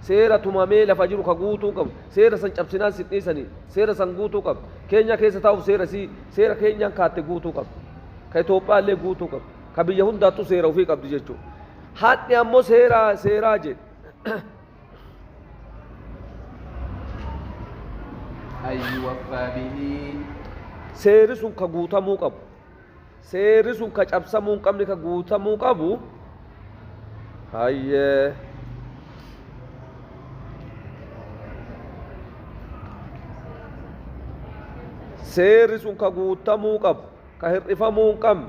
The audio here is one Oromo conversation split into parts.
Seera tumamee lafa jiru ka guutuu qabu. Seera san cabsinaan sin dhiisani. Seera san guutuu qabda. Keenyaa keessa taa'uuf seera isii, seera Keenyaan kaatte guutuu qabda. Ka Itoophiyaallee guutuu qabda. Ka biyya hundaattuu seera ufii qabdi jechuudha. Hadhi ammoo seera seeraa jedhe. An yuwaffaa bihi. Seeri sun ka guutamuu qabu. Seerri sun ka cabsamuu hin qabne ka guutamuu qabu hayyee. Seerri sun ka guutamuu qabu ka hir'ifamuu hin qabne.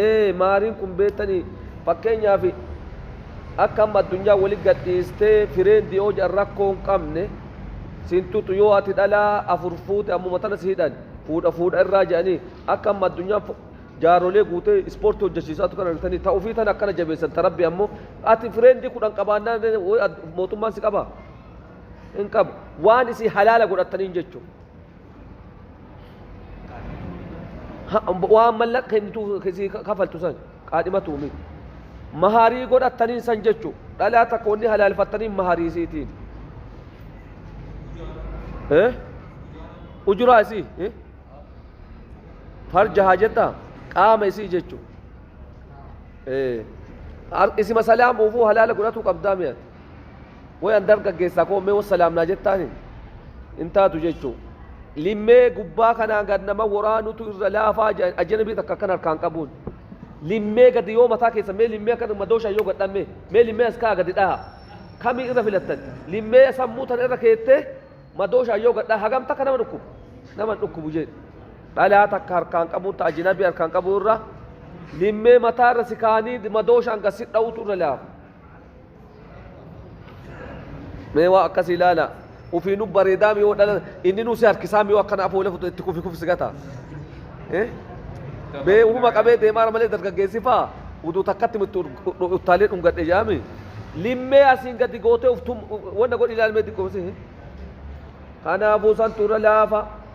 ee maariin kun beektanii fakkeenyaaf akka amma addunyaa wali gadhiistee fireendi yoo jedhan rakkoo hin qabne siin tuxu yoo ati dhalaa afur fuute ammuma tana si hidhan fuudha fuudha irraa jedhanii akka amma addunyaan fo- jaarolee guutee ispoortii hojjechiisaatu kana argitanii ta ofii tana akkana jabeessan ta rabbi ammoo ati fireendi kudhan qabaannaan mootummaan si qabaa hin qabu waan isii halaala godhattaniin jechuudha. waan mallaqa kennitu sii kafaltu san qaadhimatu miti maharii godhattaniin san jechu dhalaa takka wanni halaalfattaniin maharii isiitiin ujuraa isii farja haa jetta qaama isii jechu isima salaamuufuu halaala godhatu qabdaa mi'ati Way an dargaggeessaa koo mee wassalaam naa jettaani? Hin taatu jechuu. Limmee gubbaa kanaan gad nama woraanutu irra laafaa jedhan ajanabii takka akkan harkaan qabuun. Limmee gadi yoo mataa keessan mee limmee akkan madooshaan yoo gad dhaan mee mee limmee as ka'aa gadi dhahaa. Kamii irra filattan? Limmee sammuu tana irra keettee madooshaan yoo gad dhahaa hagam takka nama dhukkuba? Nama hin dhukkubu jedhi. Dhalaa takka harkaan qabuun ta ajanabii harkaan qabuu irra limmee mataa irra si kaa'anii madooshaan gad si dha'uutu irra laafa. mee waa akkasii ilaala ufiinu bareedaa miyoo dhala inni nu si harkisaa miyoo akkana afoola futu itti kufi kufsi gata Eh? mee uuma qabee deemaara malee dargaggeessi faa utuu takkatti mitti uttaalee dhungadhe jaami limmee asiin gadi gootee uftum wanna godhi ilaalmee xiqqoomsi kanaafuu san tura laafa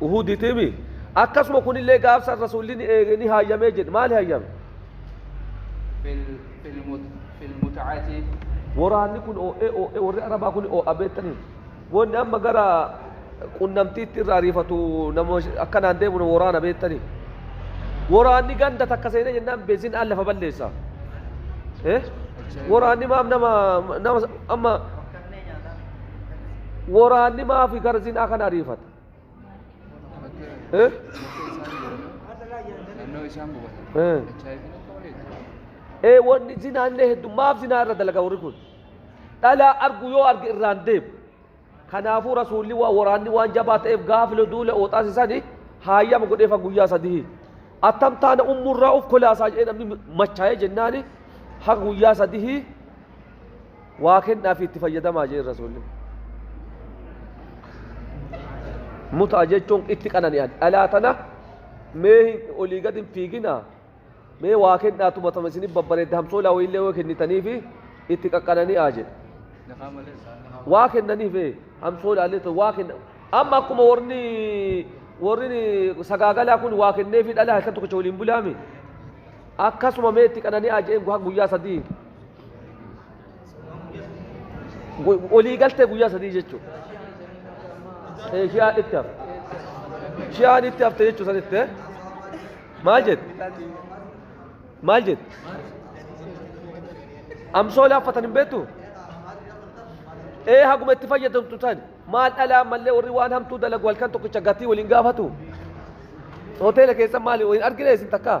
Uhuditimi. Akkasuma kunillee gaafsan rasuulli ni eege ni hayyamee jedhe. Maali hayyame? Filmutacati. Waraanni kun oo'ee oo'ee warri Arabaa kun oo'a beektanii. Wanni amma gara qunnamtiitti irraa ariifatu nama akkanaan deemu nama waraana beektanii. Waraanni ganda takka seenee jennaan beezinaan lafa balleessa. Eh? Waraanni maaf nama nama amma Waraanni maafi gara sinaa kan ariifate? Eh? Naannoo isaan gubatan. Eh. HIV akka malee. Ee wanni zinaa illee hedduu maaf zinaa irra dalaga warri kun? Dhalaa argu yoo arge irraan deemu. Kanaafuu rasuulli waa waraanni waan jabaa ta'eef gaafila duula ooxaas isaanii haayama godheefa guyyaa sadii. Attam taana ummurraa of kolaasaa jedhee namni machaa'ee jennaani haga guyyaa sadii waa kennaa fi itti fayyadamaa jeen rasuulli mutaa jechuun itti qanani'an dhalaa tana mee olii gad hin fiiginaa mee waa kennaa tumatama isinif babbareedda hamsoolaa wayiillee yoo kennitanii fi itti qaqqanani'aa jedhe waa kennaniif hamsoolaalee ta'u waa kenna amma akkuma warri warri sagaagalaa kun waa kenneefi dhalaa halkan tokkicha waliin bulaami akkasuma mee itti qanani'aa jeen guyyaa sadii Gu- Olii galtee guyyaa sadii jechuudha. Eh, Shi'aan itti hafte. Shi'aan itti hafte jechuu sanitti. eh? Maal jette? Maal jette? Amsoolee haffatan hin beektu? Ee haguma itti fayyadamtu tan maal dhalaa mallee warri waan hamtuu dalagu halkan tokkicha gatii waliin gaafatu. Hoteela keessan maali waliin argine isin takkaa?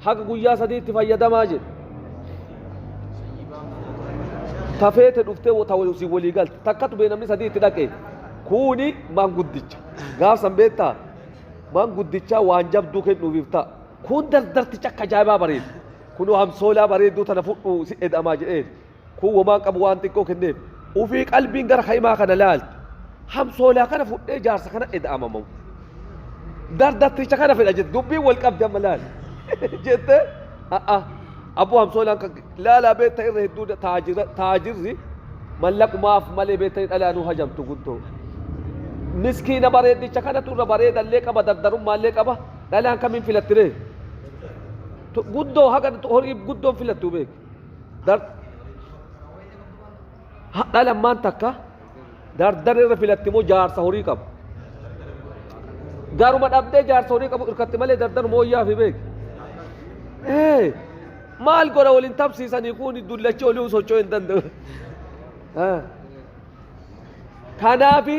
Haga guyyaa sadii itti fayyadamaa jedhe. Ta feete dhuftee ta isin walii galte. Takkatu bee namni sadii itti dhaqee. Kuuni maanguddicha. Gaafsan beektaa? Maanguddichaa waan jabduu kennuufiif ta'a. Kun dardarticha akka ajaa'ibaa bareeda. Kunoo hamsoolaa bareedduu tana fudhuu si eda'amaa jedheen. Kun womaan qabu waan xiqqoo kenneef. Ufii qalbiin gara ka'imaa kana laalti. Hamsoolaa kana fudhee jaarsa kana eda'amamamu. Dardarticha kana fedha jette. Dubbiin wal qabdi amma laali. Jette a'a abboo hamsoolaan kan laalaa beekta irra hedduu da- taajira taajirri mallaqumaaf malee beektanii dhalaa nu hajamtu guddoo. Miskiina bareeddicha kanatu irra bareedallee qaba dardarummaallee qaba dhalaan kamiin filattiree? Tu- Guddoo haga horii guddoon filattu beeki. Hadha lammaan takka dardar irra filatti moo jaarsa horii qabu. Garuma dhabdee jaarsa horii qabu irkatti malee dardar mooyyaa fi beeki. Maal godha waliin tabsiisanii kun dullachi olii socho'uu hin danda'u. Kanaafi.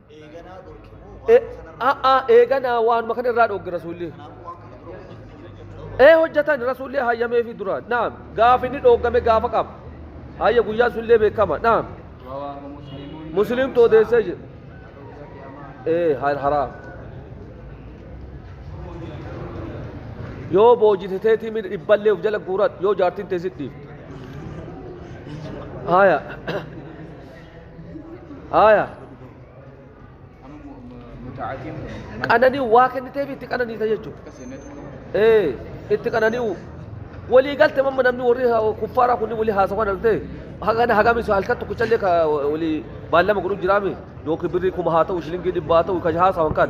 Eeganaa dhorke moo E- waan kanarraa a- a- dhorke? eeganaa waanuma kana irraa dhogge rasuulli Kanaafuu waan kana dura hojjetan jira jechuudha. ee hojjetan rasuulli hayyamee fi duraan naam gaafa inni dhoggame gaafa qaba hayya guyyaa sullee beekama naam رواه مسلم musliim tu odeessee jira ee hal haraam yoo boojite teetii miidha dhibballee of jala guuradhu yoo jaartiin teessit dhiifte haya Haaya. Qanani'u waa kenniteef itti qananiisa jechuudha. Ee itti qanani'u. Walii galte mamma namni warri kuffaaraa kunni walii haasawaa dhalte hagana hagami isa halkan tokkichallee ka walii baallama godhu jiraame yookiin birrii kuma haa ta'u shilingii dhibba haa ta'u kan haasawan kan.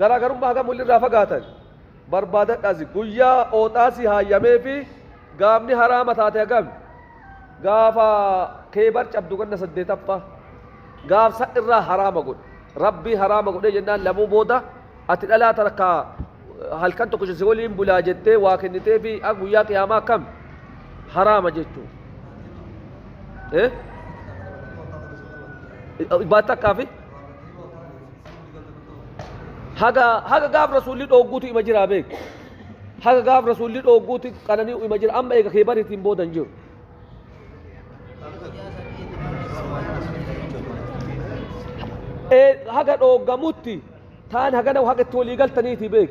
Garaagarummaa hagam wolirraa fagaatan barbaadadhaasi guyyaa ooxaasi haayameefi gaafni haraama taate hagami? Gaafa Keeybar cabdu ganna saddeetaffaa. Gaaf san irraa haraama godhe. Rabbii haraama godhee jennaan lamuu booda ati dhalaa takka halkan tokkicha si waliin bulaa jettee waa kenniteefi a guyyaa qiyaamaa akkam haraama jechuu. Eh? Baat takkaafi? haga haga gaaf rasuulli dhoogguutu ima jiraa beek haga gaaf rasuulli dhoogguuti qananii ima jira amma eega kee bariitiin booda hin jiru Ee, haga dhooggamutti taan hagana haga itti walii galtaniiti beek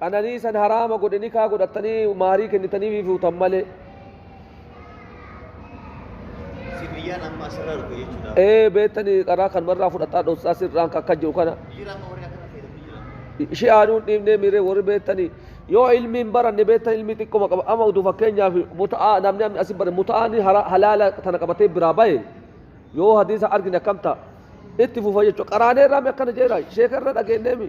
Qananii san haraama godhe nikaa godhattanii maarii kennitaniifi fuutan malee. Si biyyaan amma asirraa dhufe jechuudha. Ee beektanii qaraa kanumarraa fudhataa dhossaa sirraan kakka jiru kana. Jira amma warri akkana fayyadamu jira. Shi'aanuu hin dhiibnee miiree warri beektanii yoo ilmi hin baranne beektan ilmi xiqquma qaba amma utuu fakkeenyaaf muta'aa namni amma asi bare muta'aan hara- halaala tana qabatee biraa bahe yoo hadiisa argine akkam ta'a itti fufa jechuudha qaraanee irraa mi akkana jeera sheeka irra dhageenyeemi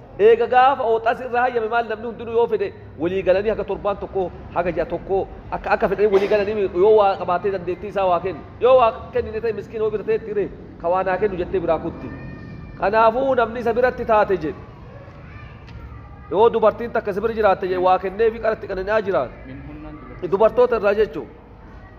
Eega gaafa ooxasi irra hayyame maal namni hundinu yoo fedhe walii galanii haga torbaan tokko haga ji'a tokko akka akka fedhanii walii galanii yoo waa qabaatee dandeettii isaa waa kennu yoo waa kennine ta'e miskiina wabi tateetti ree ka waa naa kennu jettee biraa kutti kanaafu namni isa biratti taate jedhe yoo dubartiin takka isa bira jiraatte jedhe waa kenneefi qara itti qanani'aa jiraate dubartoota irraa jechuun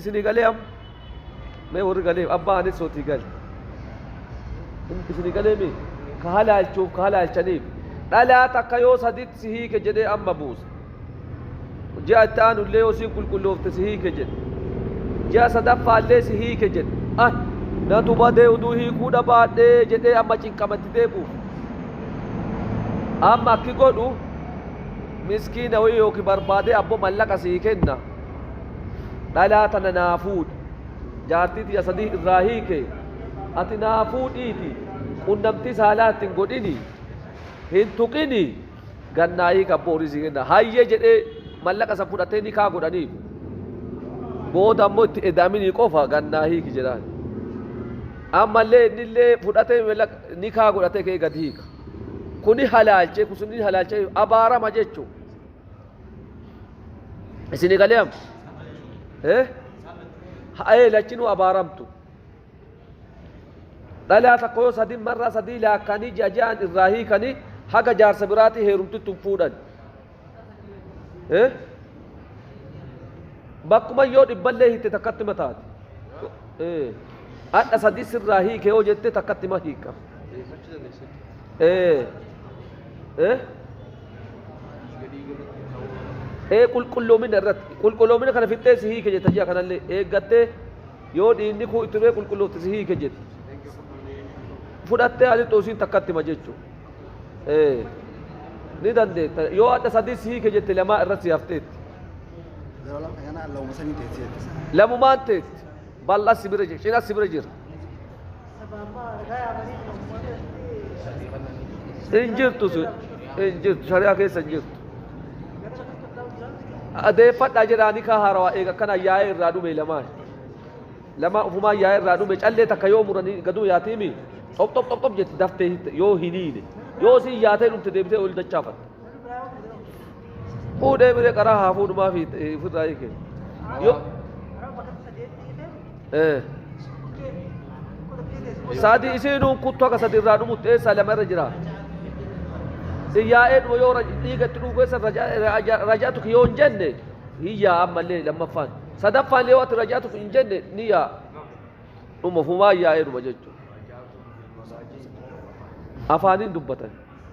Isinii galee am mee warri galee abbaa anis sootii gale isinii galee mee ka halaalchuuf ka halaalchaniif dhalaa takka yoo saditti si hiike jedhee amma buusa ji'a itti aanu illee yoo siin qulqulloofte si hiike jedhe ji'a sadaffaa illee si hiike jedhe ah natu badee uduu hiikuu dhabaadhee jedhee amma cinqamatti deebi'u amma akki godhu miskiina wayii yookiin barbaadee abbo mallaqa sii kenna dhalaa tana naa fuudhi jaartii tiyya sadii irraa hiike ati naa fuudhiiti qunnamtii saalaa itti hin godhini hin tuqini gannaa hiika abboo horii sii kenna hayye jedhee mallaqa san fudhatee nikaa godhaniif booda ammoo itti edaaminii qofa gannaa hiiki jedhaan ammallee innillee fudhatee mallaqa nikaa godhatee kee gad hiika kuni halaalchee kusunni halaalchee abaarama jechuudha isin egalee am eh ha'ee lachinuu abaaramtu dhalaa takka yoo sadin marraa sadii laakkaanii ji'a ji'aan irraa hiikanii haga jaarsa biraatii heerumtittu hin fuudhan eh bakkuma yoo dhibballee hitte takkatti mataati eh adha sadii sirraa hiike yoo jette takkatti ma hiika eh eh ee qulqulloomina irratti qulqulloomina kana fixxee si hiike jetta ji'a kanallee eeggattee yoo dhiinni kuu itti bee qulqulloofte si hiike jette fudhattee ati xuusiin takkatti ma jechuu ee ni dandeetta yoo adda sadii si hiike jette lamaa irratti si hafteetti Yeroo lama kana lauma sanii teessee jettisa. lamumaan teessi Bal'as si bira jira. Cinas si bira jira. Hin jirtu sun. Hin jirtu. Shari'aa keessa hin jirtu. Adeeffadhaa jedhaa ni kaa haarawaa eega akkana yaa'ee irraa dhume lamaan. Lamaa ufumaa yaa'ee irraa dhume callee takka yoo muranii gaduu yaatiimi. Xop xop xop xop jetti daftee hitte yoo hin hiine. Yoo si yaatee dhufte deebitee ol dachaafatte. Fuudhee biree qaraa haa fuudhumaa fi ofirraa hiike. Yoo. Eh. Saadi isiinuu kuttu akka sadi irraa dhumutti eessaa lama irra jira. Xiyyaa'ee dhuma yoo raj- dhiiga itti dhugu keessa raja- raja- rajaatu yoo hin jenne hin yaa'a ammallee lammaffaan. Sadaffaan yoo ati rajaatu hin jenne ni yaa'a. Dhuma fumaa yaa'ee dhuma jechuudha. Afaaniin dubbatan.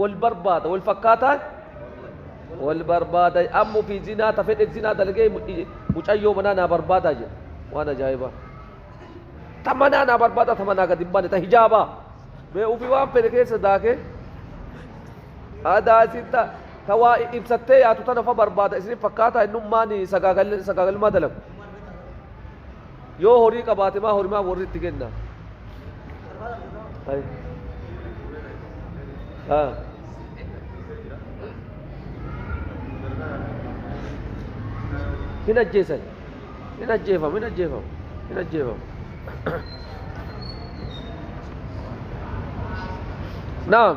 wal barbaada wal fakkaataan wal barbaada amma ofii zinaa ta fedhe zinaa dalagee mu- i- mucayyoo manaa naa barbaada jedhe waan ajaa'ibaa ta manaa naa barbaada ta manaa gadi hin baane ta hijaabaa mee ofii waan fedhe keessa daakee aadaa isin ta ta waa i- ibsattee yaatu tana fa barbaada isin fakkaataa innummaan sagaagal sagaagalmaa dalagu Yoo horii qabaate maa horimaa warri itti kenna. Ay. Ah. Hin ajjeesan. Hin ajjeefamu, hin ajjeefamu, hin ajjeefamu. Naam.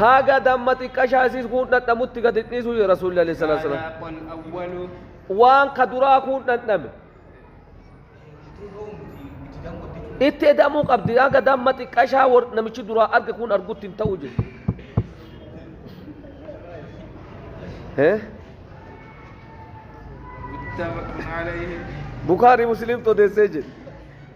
haaga damma xiqqashaa isiis kuun dhandhamutti gadi dhiisuu jedhe rasuulli alayhi salaatu salaam waan ka duraa kuun dhandhame itti edamuu qabdi haaga damma xiqqashaa namichi duraa arge kuun argutti hin ta'u jedhe bukaari musliimtu odeessee jedhe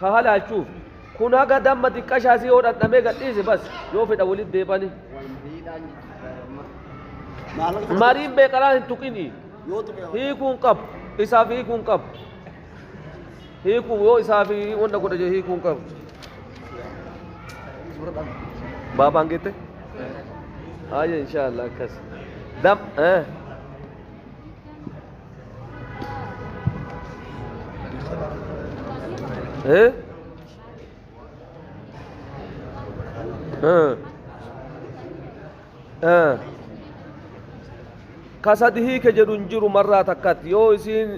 ka halaalchuuf kun haga damma xiqqashaa isii yoo dhandhamee gadhiise bas yoo fedha walitti deebani mariin beeqalaan hin tuqini hiikuun qabu isaaf hiikuun qabu hiikuun yoo isaaf wanta godha jee hiikuun qabu baabaan geette ayya inshaallah akkas dam eh Eh? Ah. Ah. ka sadi hiike jedhu hin jiru marraa takkatti yoo isiin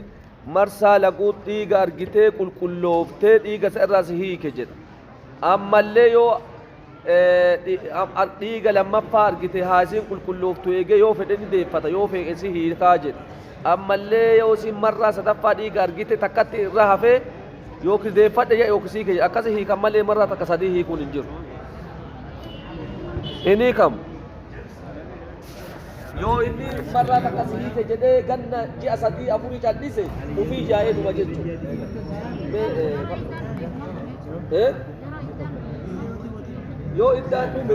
marsaa laquut dhiiga argitee qulqullooftee dhiiga isa irraas hiike jedha ammallee yoo dhiiga lammaffaa argite haasiin qulqullooftu eegee yoo fedhe ni deeffata yoo feeqe si hiikaa jedhe ammallee yoo siin marraa sadaffaa dhiiga argite takkatti irra hafee yookiin deeffadhe jedhe yookiin siike jedhe akkasi hiikan malee marraa takka sadii hiikuun hin jiru. Hin hiikamu. yoo inni marraa takka si hiike jedhee ganna ji'a sadii afurii callise ufii yaa'ee dhuma jechuudha. Yoo iddaan dhume.